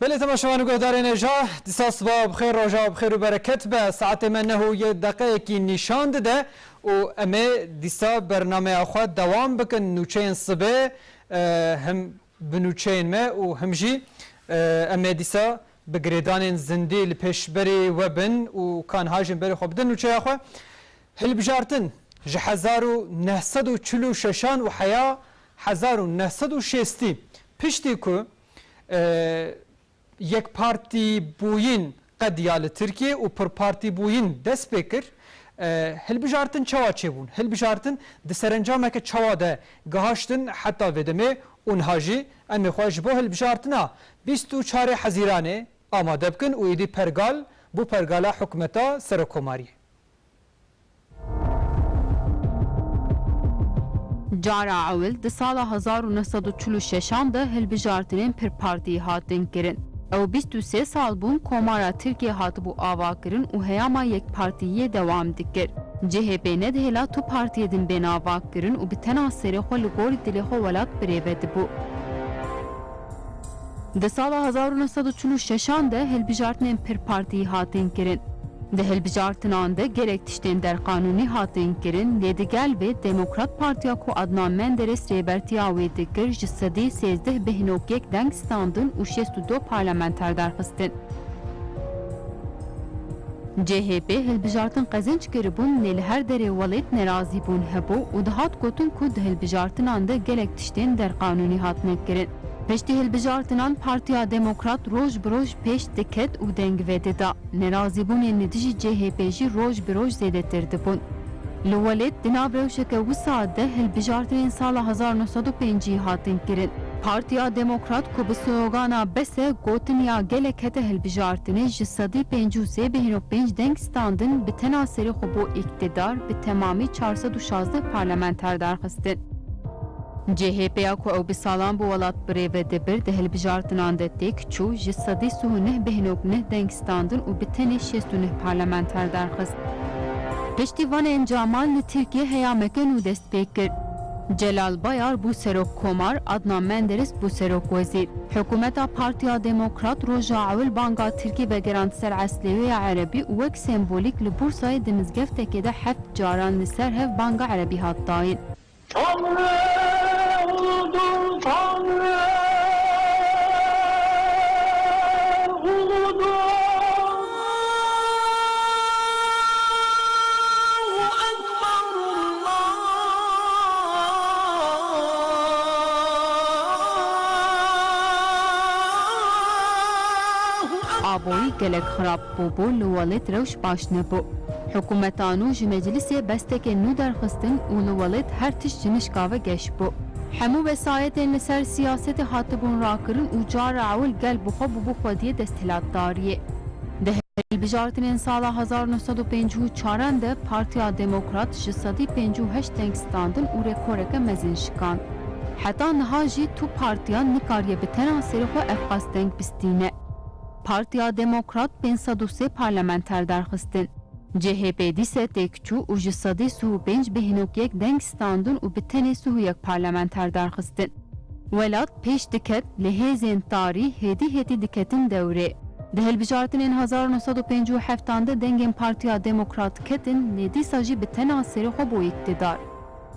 Belê temaşevan û guhdarên êja dîsa siba bixêr roja bixêr û bereket be saetê me neh û yê deqeyekî nîşan dide û em ê dîsa bernameya xwe dewam bikin nûçeyên sibê Him bi nûçeyên me û him jî em ê dîsa bi girêdanên zindî li pêşberî we bin û ka niha jî em berê xwe bidin nûçeya xwe. Hilbijartin, Ji hezar û neh sed û çil û şeşan û heya hezar û neh sed û şêstî piştî ku Yekpartîbûyîn qed ya li Tirkiyeyê û pirpartîbûyîn dest pê kir. Hilbijartin çawa çêbûn? Hilbijartin di serencameke çawa de gihaştin heta vê demê û niha jî em ê xwe ji bo hilbijartina bîst û çarê Hezîranê amade bikin û êdî pergal bû pergala hikûmeta serokomariyê. Cara ewil di sala hezar û neh sed û çil û şeşan de hilbijartinên Pirpartiyî hatin kirin. Ew bîst û sê sal bûn Komara Tirkiyê hatibû avakirin û heyama yekpartiyiyê dewam dikir. CHP ne dihêla tu partiyê din bêne avakirin û bi tena serê xwe li gorî dilê xwe welat birêve dibû. Di sala hezar û neh sed û çil û şeşan de hilbijartinên pir partî hatin kirin. Di hilbijartinan de gelek tiştên derqanûnî hatin kirin lê di gel vê Demokrat Partiya ku Adnan Menderes rêbertiya wê dikir ji sedî sêzdeh bêhnokyek deng standin û şêst û du parlamenter derxistin. CHP hilbijartin qezenc kiribûn lê li her derê welêt nerazîbûn hebû û dihat gotin ku di hilbijartinan de gelek tiştên derqanûnî hatine kirin. Piştî hilbijartinan Partiya Demokrat roj bi roj pêş diket û deng vedida. Nerazîbûnên li dijî CHP jî roj bi roj zêdetir dibûn. Li welêt di nav rewşeke wisa de hilbijartinên sala hezar neh sed û pêncî hatin kirin. Partiya Demokrat ku bi slogana Bes e gotin ya gelek hete hilbijartinê ji sedî pêncî û sê bêhno pênc deng standin bi tena serê xwe bo îktidar bi temamî çar sed û şazdeh parlamenter darxistin. CHP'ya ku ew bi salan bi welat birêve dibir di hilbijartinan de têk çû ji sedî sih û neh bêhno neh deng standin û bi tenê şêst û neh parlamenter darxist. Piştî van encaman li Tirkiye heyameke nû dest pê kir. Celal Bayar bû serokkomar, Adnan Menderes bû serokwezîr. Hikûmeta Partiya Demokrat roja ewil banga tirkî vegerand ser eslêweya erebî û wek sembolîk li Bursayê di mizgeftekê de heft caran li ser hev banga erebî hat dayin. Tanrı uludur Tanrı uludur. Avoyî gelek xirab bû bû li welêt rewş baş nebû. Hikûmeta nû ji meclîsê bestekên nû derxistin û li welêt her tişt ji nişka ve geş bû. Hemû vesayetên li ser siyasetê hatibûn rakirin û cara ewil gel bi xwe bûbû xwediyê desthilatdariyê. Di hilbijartinên sala hezar û neh sed û pêncî û çar an de Partiya Demokrat ji sedî pêncî û heşt deng standin û rêkoreke mezin şikand. Heta niha jî tu partiya nikariye bi tena serê xwe ev qas deng bistîne. Partiya Demokrat pênc sed û sê parlamenter derxistin. CHP dîse têk çû û ji sedî sih û pênc bê hînok yek deng standin û bi tenê sih û yek parlamenter derxistin. Welat pêş diket lê hêzên tarî hêdî hêdî diketin dewrê. Di hilbijartinên hezar û neh sed û pêncî û heft an de dengên Partiya Demokrat ketin lê dîsa jî bi tena serê xwe bû îktidar.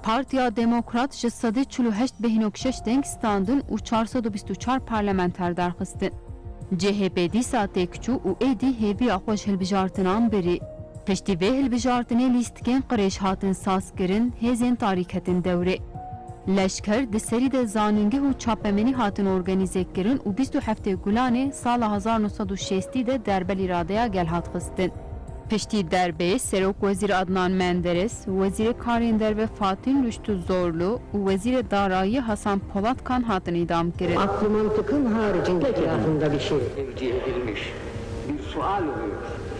Partiya Demokrat ji sedî çil û heşt bêhînok şeş deng standin û çar sed û bîst û çar parlamenter derxistin. CHP dîsa têk çû û êdî hêviya xwe ji hilbijartinan birî. Piştî vê hilbijartinê lîstikên qirêj hatin sazkirin, hêzên tarî ketin dewrê. Leşker di serî de zanîngeh û çapemenî hatin organîzekkirin û bîst û heftê Gulanê sala hezar û nû sed û şêstî de derbelî radeya gel hat xistin. Piştî derbeyê Serok Wezîr Adnan Menderes, Wezîrê Karên Derve Fatîl Rûştû Zorlu û Wezîrê Darayîyê Hasan Polat Kan hatin îdam kirin. Akl û mantiqin haricî girafin vedişê. Ev cihê ilmîş bir sual û hêz.